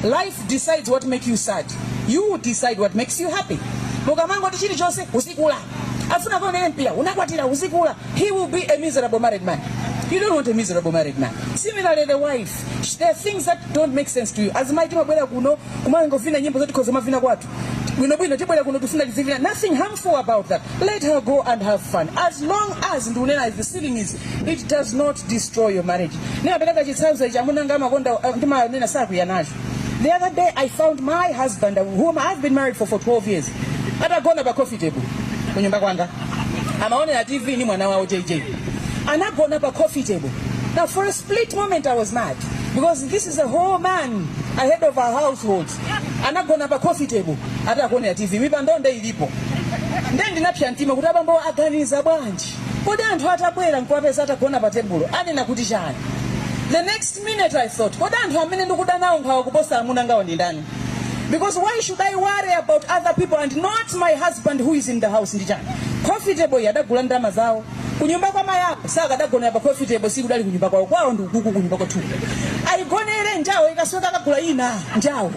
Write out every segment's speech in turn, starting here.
Life decides what make you sad. You decide what makes you happy. Mukamangoti chilichonse uzikula. Afuna kwa nene mpira unakwatira uzikula. He will be a miserable married man. You don't want a miserable married man. Similarly the wife. There are things that don't make sense to you. As my team abwera kuno kumangofina nyimbo zoti kozoma vina kwatu. bwinobwino tibwere kuno tifuna tizivina nothing harmful about that let her go and have fun as long as ndikunena as the ceiling is it does not destroy your marriage ndinapereka chitsanzo ichi amuna anga amakonda uh, ndimanena sakwiya nacho the other day i found my husband whom i've been married for for 12 years atagona pa coffee table kunyumba kwanga amaonera tv ni mwana wawo jj anagona pa coffee table now for a split moment i was mad because this is a whole man a head of our household anagona pa coffee table ati akuonera tv mipando nde ilipo nde ndinapsa mtima kuti abambo aganiza bwanji kodi anthu atabwera nkuwapeza atagona pa tebulo anena kuti chani the next minute i thought kodi anthu amene ndikuda nawo nkhawa kuposa amuna angawo ndi ndani because why should i worry about other people and not my husband who is in the house ndi chani coffee table iyi adagula ndi ndalama zawo kunyumba kwa mayi ako sakadagonera pa coffee table si kudali kunyumba kwawo kwawo ndi ukuku kunyumba kwathuku ayigonere njawo ikathyoka akagula ina njawo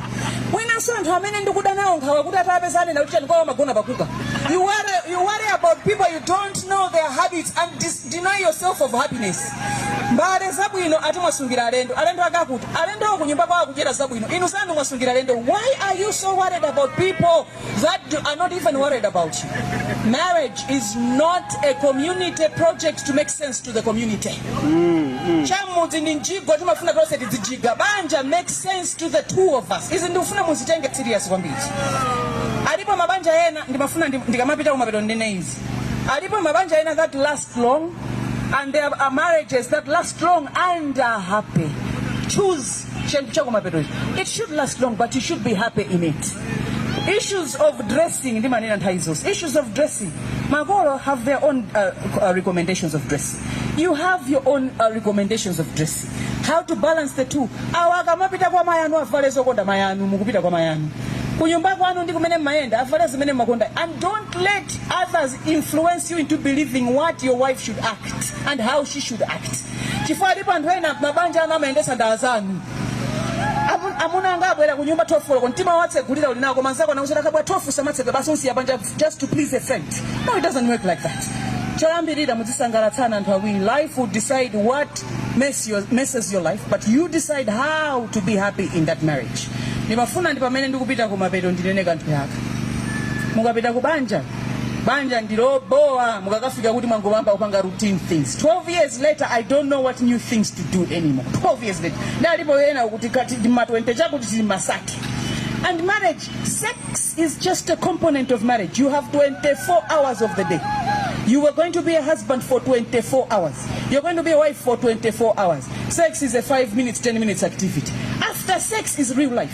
mwinanso anthu amene ndikuda nawo nkhawa kuti atapeza anena kuti chani kwawo amagona pa kuka you worry, you worry about people you don't know their habits and dis- deny yourself of happiness mbale zabwino ati mwasungira alendo alendo akuti alendowo kunyumba kwawo akudyera zabwino inu zanu mwasungira alendo why are you so worried about people that are not even worried about you. Marriage is not a community project to make sense to the community. Mm, mm. Chamudzi ndi mjigo timafuna tonse tidzijiga. Banja make sense to the two of us. Izi ndikufuna muzitenge serious kwambiri. Alipo mabanja ena ndimafuna ndikamapita kumapeto ndinene izi. Alipo mabanja ena that last long and there are marriages that last long and are happy. Choose chakumapeto icho it should last long but you should be happy in it issues of dressing ndimanena nthawi zonse issues of dressing makolo have their own uh, uh, recommendations of dressing you have your own uh, recommendations of dressing how to balance the two awa akamapita kwa mayi anu avale zokonda mayi anu mukupita kwa mayi anu kunyumba kwanu ndi kumene mmayenda avale zimene mmakonda and don't let others influence you into believing what your wife should act and how she should act chifukwa alipo anthu ena mabanja anu amayendetsa ndi anzanu amuna anga abwera ku nyumba 12 koloko mtima wotsegulira uli nawo koma nzako anakuuza akabwera 12 usamatsegule basi umsiya panja just to please a friend no it doesn't work like that choyambirira mudzisangalatsana anthu awiri life will decide what mess mess, messes your life but you decide how to be happy in that marriage ndimafuna ndi pamene ndikupita kumapeto ndinene kanthu yaka mukapita ku banja banja ndilobowa mukakafika kuti mwangoyamba kupanga routine things 12 years later i don't know what new things to do anymore 12 years later ndalipo ena kuti kati ndi ma 20 chakuti tili masaki and marriage sex is just a component of marriage you have 24 hours of the day you were going to be a husband for 24 hours you're going to be a wife for 24 hours sex is a 5 minutes 10 minutes activity after sex is real life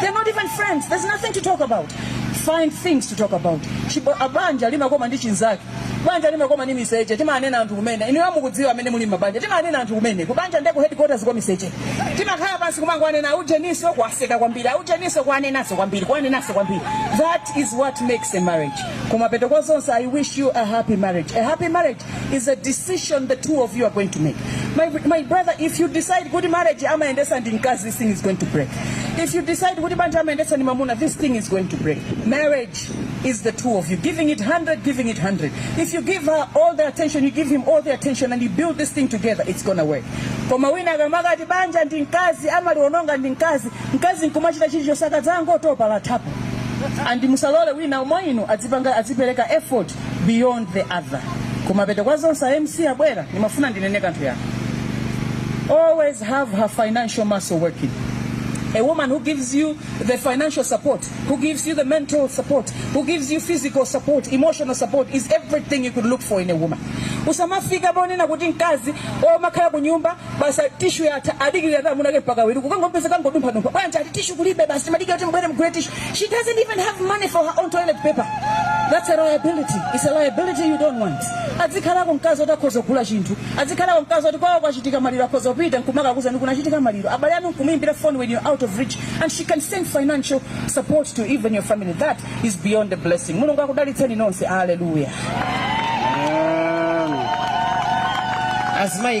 They're not even friends. There's nothing to talk about. Find things to talk about. Chibo- a banja limakoma ndi chinzake. Banja limakoma ndi miseche. Timanena anthu kumene. Inuyo mukudziwa amene muli mabanja. Timanena anthu kumene. Kubanja ndeko headquarters kwa miseche. Timakhala pansi kumangowanena aujeniso kuwaseka kwambiri. Aujeniso kuwanenaso kwambiri. Kuwanenaso kwambiri. That is what makes a marriage. Kumapeto kwa zonse I wish you a happy marriage. A happy marriage is a decision the two of you are going to make. My, my brother, if you decide kuti marriage, amayendetsa ndi mkazi, this thing is going to break. If you decide kuti banja, amayendetsa ndi mamuna, this thing is going to break. Marriage is the two of you, giving it 100, giving it 100. If you give her all the attention, you give him all the attention, and you build this thing together, it's gonna work. Koma wina akamakati banja ndi mkazi, amaliononga ndi mkazi, mkazi nkumachita chilichonse akadzangotopa lathapo. And musalole wina mwa inu azipereka effort beyond the other kumapeto kwa zonse a MC akubwera ndimafuna ndinene kanthu ya always have her financial muscle working a woman who gives you the financial support, who gives you the mental support, who gives you physical support, emotional support is everything you could look for in a woman. Usamafika ponena kuti mkazi omakhala kunyumba basi ati tishu yatha adikirira amuna ake mpaka abwere kukangompeza akungodumphadumpha bwanji ati tishu kulibe basi timadikira kuti mubwere mugule tishu she doesn't even have money for her own toilet paper that's a liability it's a liability you don't want azikhalako mkazi oti akhoza kugula chinthu azikhalako mkazi oti kwawo kwachitika maliro akhoza kupita nkumakakuuza kuti kunachitika maliro abale anu nkumuyimbira phone when you're out of reach and she can send financial support to even your family that is beyond the blessing mulungu akudalitseni nonse hallelujah Amen. As my